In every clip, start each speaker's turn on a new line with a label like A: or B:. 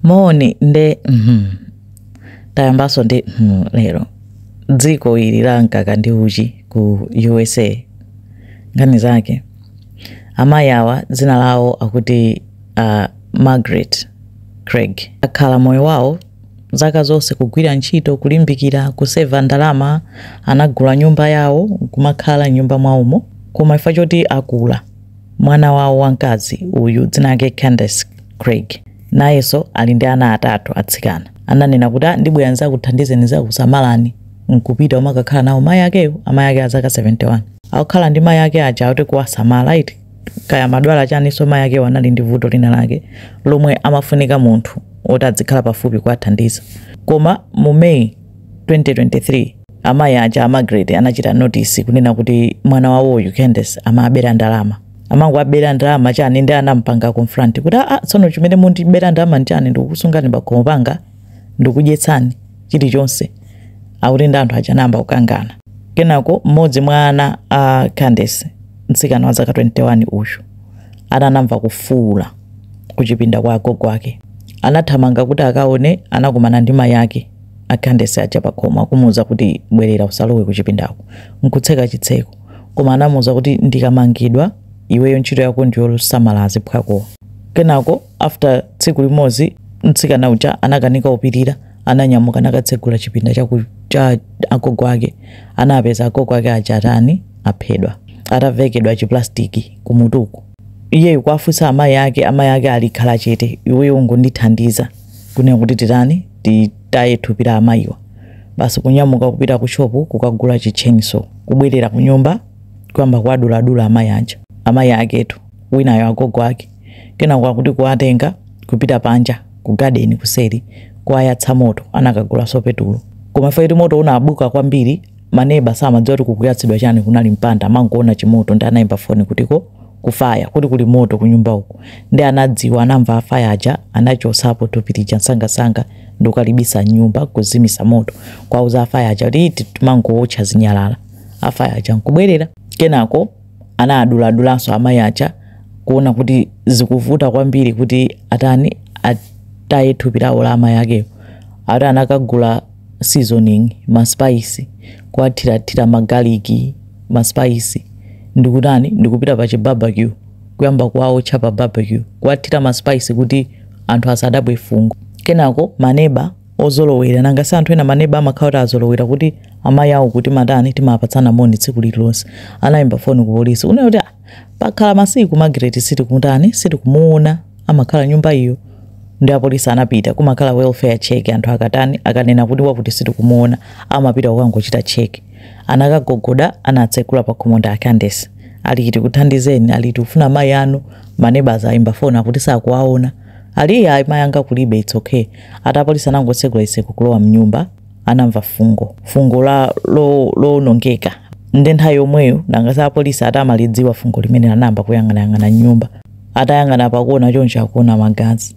A: moni nde mhm tayambaso ndi mhm lero dziko ili la mkaka ndi uchi ku usa nkhani zake amayi awa dzina lawo akuti uh, margaret craig akhala moyo wawo zaka zonse kugwira ntchito kulimbikira kuseva ndalama anagula nyumba yawo kumakhala mnyumba mwawomo koma chifukwa choti akula Mwana wawo wamkazi uyu, dzina lake Candace Craig, nayenso ali ndi ana atatu atsikana. Ananena kuti, Ah, ndibwera ndidzakuthandizeni, ndidzakusamalani, n'kupita kumakakhala nawo mayi akeyo, amayi ake a zaka 71. Akukhala ndi mayi ake aja akuti kuwasamala eti. Kaya amadwala chaninso mayi akeyo anali ndi vuto linalake lomwe amafunika munthu woti adzikhala pafupi kuwathandiza. Koma mu May 2023. amayi aja a Margaret anachita notice kunena kuti mwana wawoyu Candace amawabera ndalama amangowabera ndalama chani nde anampanga confront kuti aa tsono chimene mundibera ndalama nchani ndikukusungani pakhomo panga ndikudyetsani chilichonse akuti nde anthu aja anayamba kukangana kenako mmodzi mwa ana a Candace mtsikana wa zaka 21 uyu anamva kufuula kuchipinda kwa agogo ake anathamanga kuti akaone anakumana ndi mayi ake a Candace aja pakhomo akumuuza kuti bwerera usalowe kuchipindako nkutseka chitseko koma anamuuza kuti ndikamangidwa iweyo ntchito yako ndiyosamala aziphwakowa. Kenako after tsiku limodzi mtsikana uja anakanika kupirira ananyamuka nakatsegula chipinda cha, ku, cha agogo ake anapeza agogo ake aja atani aphedwa atavekedwa chiplastiki kumutuku iyeyu kuwafunsa amayi ake amayi ake angokhala chete iweyo ungondithandiza kunena kuti titani titaye thupi la amayiwa basi kunyamuka kupita ku shopu kukagula chitcheniso kubwerera ku nyumba kuyamba kuwaduladula amayi aja amayi aketu winayo agogo ake kenako akuti kuwatenga kupita panja ku gadeni kuseri kuwayatsa moto anakagulanso petulo koma chifukwa choti moto unabuka kwambiri maneba samadziwa kuti kukuyatsidwa chani kunali mpanda amangoona chimoto nde anayimba foni kutiko ku faya kuti kuli moto kunyumba uko nde atadziwa anamva afaya aja anachotsapo thupi lija msangasanga ndikukalibisa mnyumba kuzimisa moto kuwauza afaya aja kuti timangootcha zinyalala afaya aja nkubwerera kenako anaaduladulanso amayi aja kuona kuti zikuvuta kwambiri kuti atani ataye thupi lawo la amayi akeyo ati anakagula seasoning ma spice kuwathirathira ma garlic ma spice ndikutani ndikupita pa chi barbecue kuyamba kuwaotcha pa barbecue kuwathira ma spice kuti anthu asadabwe fungo kenako maneba ozolowera nanga si anthu ena maneba amakhala kuti azolowera kuti amayi awo kuti timatani timapatsana moni tsiku lililonse anayimba foni ku polisi kunena kuti "Ah, pakhala masiku magret sitikutani sitikumuwona amakhala nyumba iyo ndi apolisi anapita kumakhala welfare check anthu akatani akanena kuti wakuti sitikumuwona amapita kukangochita check anakagogoda anatsekula pakhomo ndi a Candace ali tikuthandizeni ali tikufuna mayi anu ma neighbours ayimba foni akuti sakuwaona ali ayi mayi anga kulibe it's okay ati apolisi anangotsekula iseko kulowa mnyumba anamva fungo fungo la lowonongeka nde nthawi yomweyo nanga si apolisi ati amalidziwa fungo limene anayamba kuyang'anayang'ana mnyumba atayang'ana pakuona choncho akuona magazi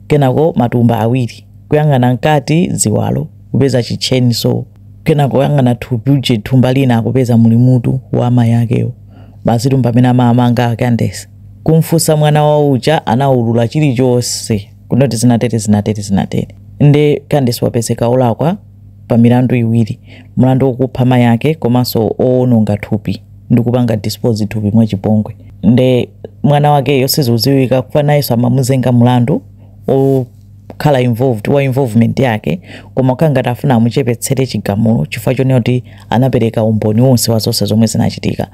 A: kenako matumba awiri kuyang'ana mkati ziwalo kupeza kitchen so kenako kuyang'ana thupi uje thumba lina akupeza muli mutu wa amayi akewo basi mpamene amawamanga a Candace kumfunsa mwana wawo uja anaulula chilichonse kuti zinatere zinatere zinatere nde Candace wapezeka olakwa pa milandu iwiri mlandu wokupha mayi ake komanso owononga thupi ndi kupanga dispose thupi mwachipongwe nde mwana wakeyo sizikudziwika kuti nayenso amuzenga mlandu okhala involved wa involvement yake koma kukhala ngati afuna amuchepetsere chigamulo chifukwa chonena kuti anapereka umboni wonse wa zonse zomwe zinachitika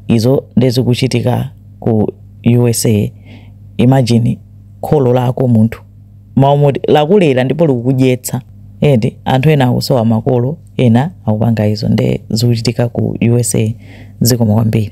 A: izo nde zikuchitika ku usa imagine kholo lako munthu mai woti lakulera ndipo likukudyetsa and anthu ena akusowa makolo ena akupanga izo nde zikuchitika ku usa zikomo kwambiri